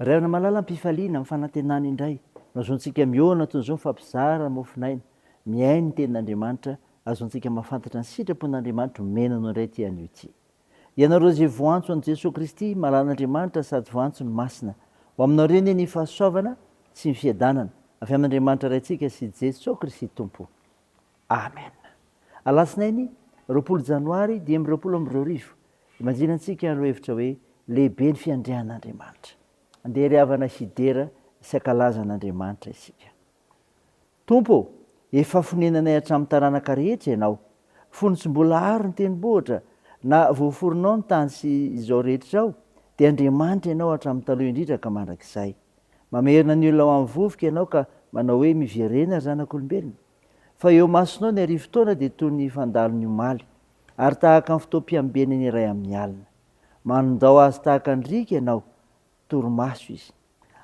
Ray aona malala ampifaliana amin'ny fanantenana indray no azoantsika mihaona toy izao mifampizara mofon'aina mihaino ny tenin'Andriamanitra azoantsika mahafantatra ny sitrapon'Andriamanitra omena anao indray ity anio ity ianareo izay voantso an'i Jesoa Kristy malalan'Andriamanitra sady voantso ny Masina ho aminao reny ny fahasoavana sy ny fiadanana avy amin'Andriamanitra Raintsika sy Jesoa Kristy Tompo Amen! Alatsinainy roapolo janoary dimy amby roapolo amby roa arivo, imajinan tsika ireo hevitra hoe lehibe ny fiandrianan Andriamanitra. Andeha ry havana hidera sy hakalaza an Andriamanitra isika. Tompo ô! Efa fonenanay hatramin taranaka rehetra Ianao. Fony tsy mbola hary ny tenibohitra na voaforonao ny tany sy izao rehetra izao dia Andriamanitra Ianao hatramin taloha indrindra ka mandrakizay. Mamerina ny olona ho am vovoka Ianao ka manao hoe miverena ry zanak'olombelona. Fa eo imasonao ny arivo taona dia toy ny fandalo ny omaly, ary tahaka ny fotoam-piambenany iray amin'ny alina. Manondao azy tahaka ny riaka ianao, torimaso izy.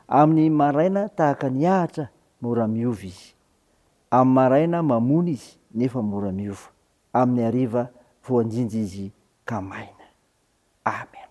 Amin'ny maraina tahaka ny ahitra, mora miova izy. Amin'ny maraina mamony izy, nefa mora miova. Amin'ny hariva voanjinja izy ka maina. Amen.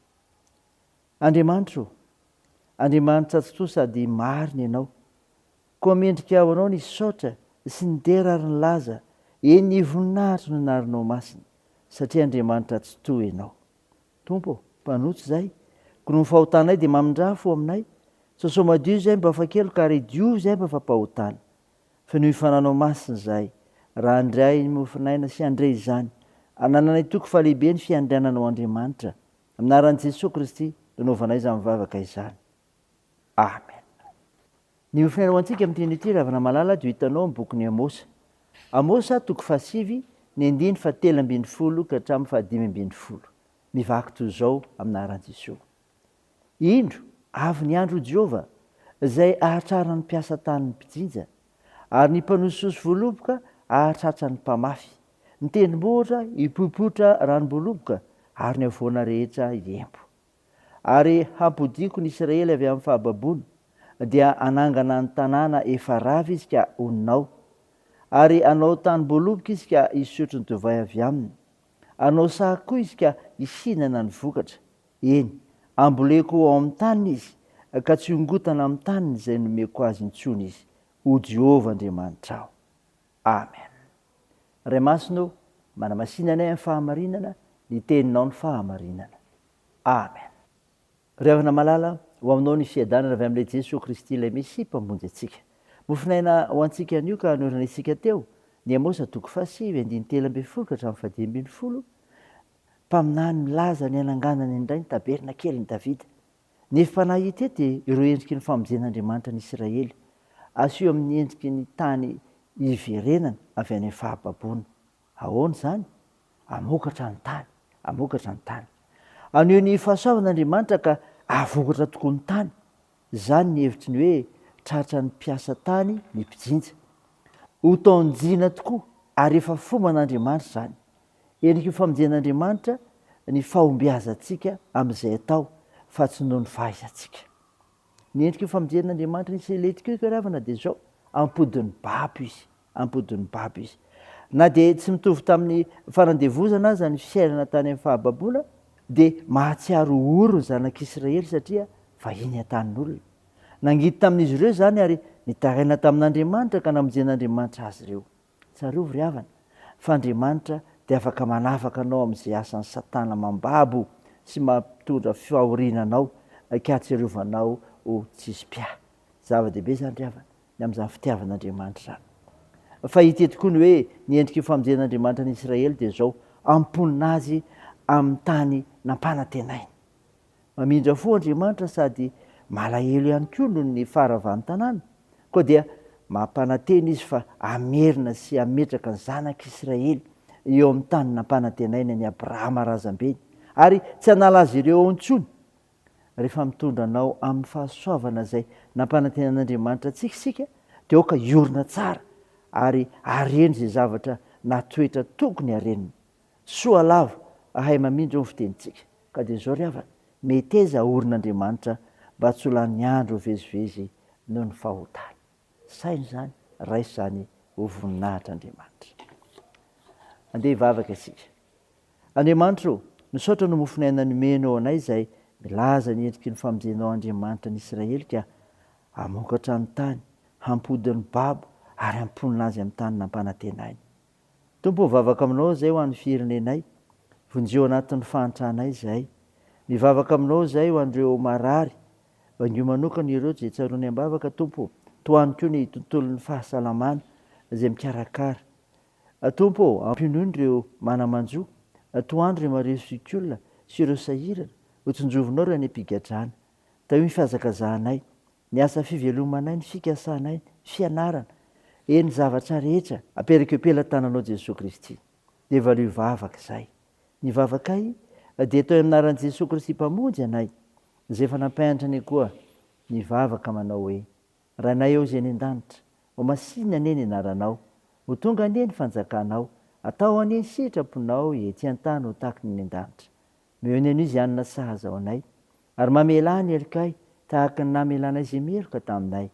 Andriamanitro ô! Andriamanitra tsy toa sady marina Ianao. Koa mendrika ho Anao ny hisaotra sy ny dera ary ny laza, eny ny voninahitry ny anaranao masina, satria Andriamanitra tsy toa Ianao. Tompo ô! Mpanotso izay, koa noho ny fahotanay dia mamindrafo ho aminay, sosao madio izay mba fa keloka ary diovy izay mba fa mpahotana. Fenoy fananao masina izahay, raha handre ahy ny mofonaina sy handre izany anananay toky fa lehibe ny fiandriananao Andriamanitra, amin'ny anaran'i Jesoa Kristy no anaovanay izany vavaka izany. Amen. Ny mofonaina ho antsika amin'ity andro ity ravina malala dia ho hitanao amin'ny bokin'i Amosa. Amosa toko fahasivy, ny andininy fahatelo ambin'ny folo ka hatramin'ny fahadimy ambin'ny folo. Mivaky toy izao, amin'ny anaran'i Jesoa. Indro, avy ny andro, hoy Jehovah, izay hahatrarana ny mpiasa tany ny mpijinja, ary ny mpanosihosy voaloboka hahatratra ny mpamafy, ny tendrombohitra hipoipoitra ranom-boaloboka, ary ny havoana rehetra hiempo. Ary hampodiako ny Israely avy amin'ny fahababoana, dia hanangana ny tanàna efa rava izy ka honina ao, ary hanao tanim-boaloboka izy ka hisotro ny divay avy aminy. Hanao saha koa izy ka hihinana ny vokatra. Eny, amboleko ao amin'ny taniny izy, ka tsy hongotana amin'ny taniny izay nomeko azy intsony izy, hoy Jehovah Andriamanitrao. Amen. Ray Masina ô, manamasina anay amin'ny fahamarinana, ny Teninao ny fahamarinana. Amen. Ry havana malala, ho aminao ny fiadanana avy amin'ilay Jesoa Kristy ilay Mesia Mpamonjy antsika. Mofonaina ho antsika anio ka hanoranitsika teo, ny Amosa toko fahasivy andininy telo ambin'ny folo ka hatramin'ny fahadimy ambin'ny folo, mpaminany milaza ny hananganany indray ny tabernakelin'i Davida. Ny hevi-panahy hita eto dia ireo endriky ny famonjen'Andriamanitra ny Isiraely, asio amin'ny endriky ny tany iverenany avy any amin'ny fahababoana. Ahoana izany? Hamokatra ny tany. Hamokatra ny tany. Haneho ny fahasoavana Andriamanitra ka hahavokatra tokoa ny tany. Izany ny hevitry ny hoe tratra ny mpiasa tany ny mpijinja. Ho taon-jina tokoa ary efa fomban'Andriamanitra izany. Endrik'io famonjen'Andriamanitra ny fahombiazantsika amin'izay atao fa tsy noho ny fahaizantsika. Ny endrik'io famonjen'Andriamanitra ny Seletika io, ry havana, dia izao, ampodin'ny babo izy. am-podin'ny babo izy. Na dia tsy mitovy tamin'ny fanandevozana aza ny fiainana tany amin'ny fahababoana, dia mahatsiaro ory ny zanak'Israely satria vahiny an-tanin'olona. Nangidy tamin'izy ireo izany ary nitaraina tamin'Andriamanitra ka namonjen'Andriamanitra azy ireo. Tsarovy ry havana, fa Andriamanitra dia afaka manafaka anao amin'izay asan'i Satana mambabo sy mampitondra fahoriana anao ka hahatsiarovanao ho tsisy mpiahy. Zava-dehibe izany ry havana. ny amin'izany fitiavan'Andriamanitra izany. Fa hita eto koa ny hoe ny endrik'io famonjen'Andriamanitra ny Israely dia izao, amponina azy amin'ny tany nampanantenainy. Mamindra fo Andriamanitra sady malahelo ihany koa noho ny faharavan'ny tanàna, koa dia mampanantena Izy fa hamerina sy hametraka ny zanak'Israely eo amin'ny tany nampanantenainy an'i Abrahama razambeny, ary tsy hanala azy ireo ao intsony Rehefa mitondra anao amin'ny fahasoavana izay nampanantenan'Andriamanitra antsika isika, dia aoka hiorina tsara ary hareno izay zavatra na toetra tokony harenina. Soa lava ahay mamindra eo ny fitenintsika. Ka dia izao ry havana, meteza haorina Andriamanitra mba tsy ho lany andro vezivezy noho ny fahotana. Saino izany, raiso izany ho voninahitr'Andriamanitra. Andeha hivavaka isika. Andriamanitro ô, misaotra noho mofon'aina nomenao anay izay milaza ny endriky ny famonjenao Andriamanitra ny Israely ka hamokatra ny tany, hampody ny babo ary hamponina azy amin'ny tany nampanantenainy. Tompo o, vavaka aminao izay ho an'ny firenenay, vonjeo anatin'ny fahantranay izahay. Mivavaka aminao izahay ho an'ireo marary, bangio manokana ireo izay tsaroany am-bavaka Tompo o, tohano koa ny tontolon'ny fahasalamana izay mikarakara. Tompo o, ampinono ireo mana-manjo, tohano ireo mariho zokiolona sy ireo sahirana, hotsinjovinao ireo any am-pigadrana. Tahio ny fihazakazahanay, Ny asa fivelomanay, ny fikasanay, fianarana, eny ny zavatra rehetra aperak'eo pelatananao Jesoa Kristy dia valio vavaka izay. Ny vavakay dia atao an'anaran'i Jesoa Kristy Mpamonjy anay izay efa nampianatra anay koa nivavaka manao hoe, Rainay ao izay any an-danitra, ho masinina anie ny anaranao, ho tonga anie ny fanjakanao, atao anie ny sitraponao ety an-tany ho tahaky ny any an-danitra. Miheno anio izay anona sahaza ao anay, ary mamelà ny helokay tahaka ny namelanay izay meloka taminay,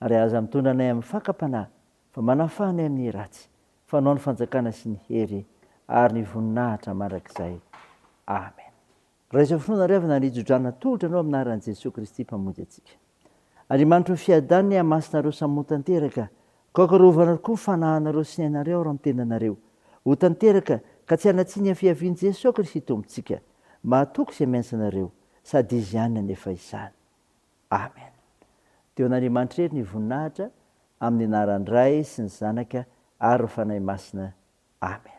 ary aza mitondra anay amin'ny fakam-panahy, fa manafaha anay amin'ny ratsy, fa anao ny fanjakana sy ny hery ary ny voninahitra mandrakizay. Amen. Raiso finoana ry havana ary ijo-drano natolotra anao amin'ny anaran'i Jesoa Kristy Mpamonjy antsika. Andriamanitro fiadana ihamasonareo samy ho tanteraka ko akarovana tokoa ny fanahanareo sy ny ainareo ary ny tenanareo ho tanteraka ka tsy hanatsiny ny fiavian'i Jeso Kristy Tompontsika mahatoky izay miantsa anareo sady Izy ihany nanefa izany Amen Deo an'Andriamanitra irery ny voninahitra amin'ny anaran'ny Ray sy ny Zanaka ary ny Fanahy Masina Amen.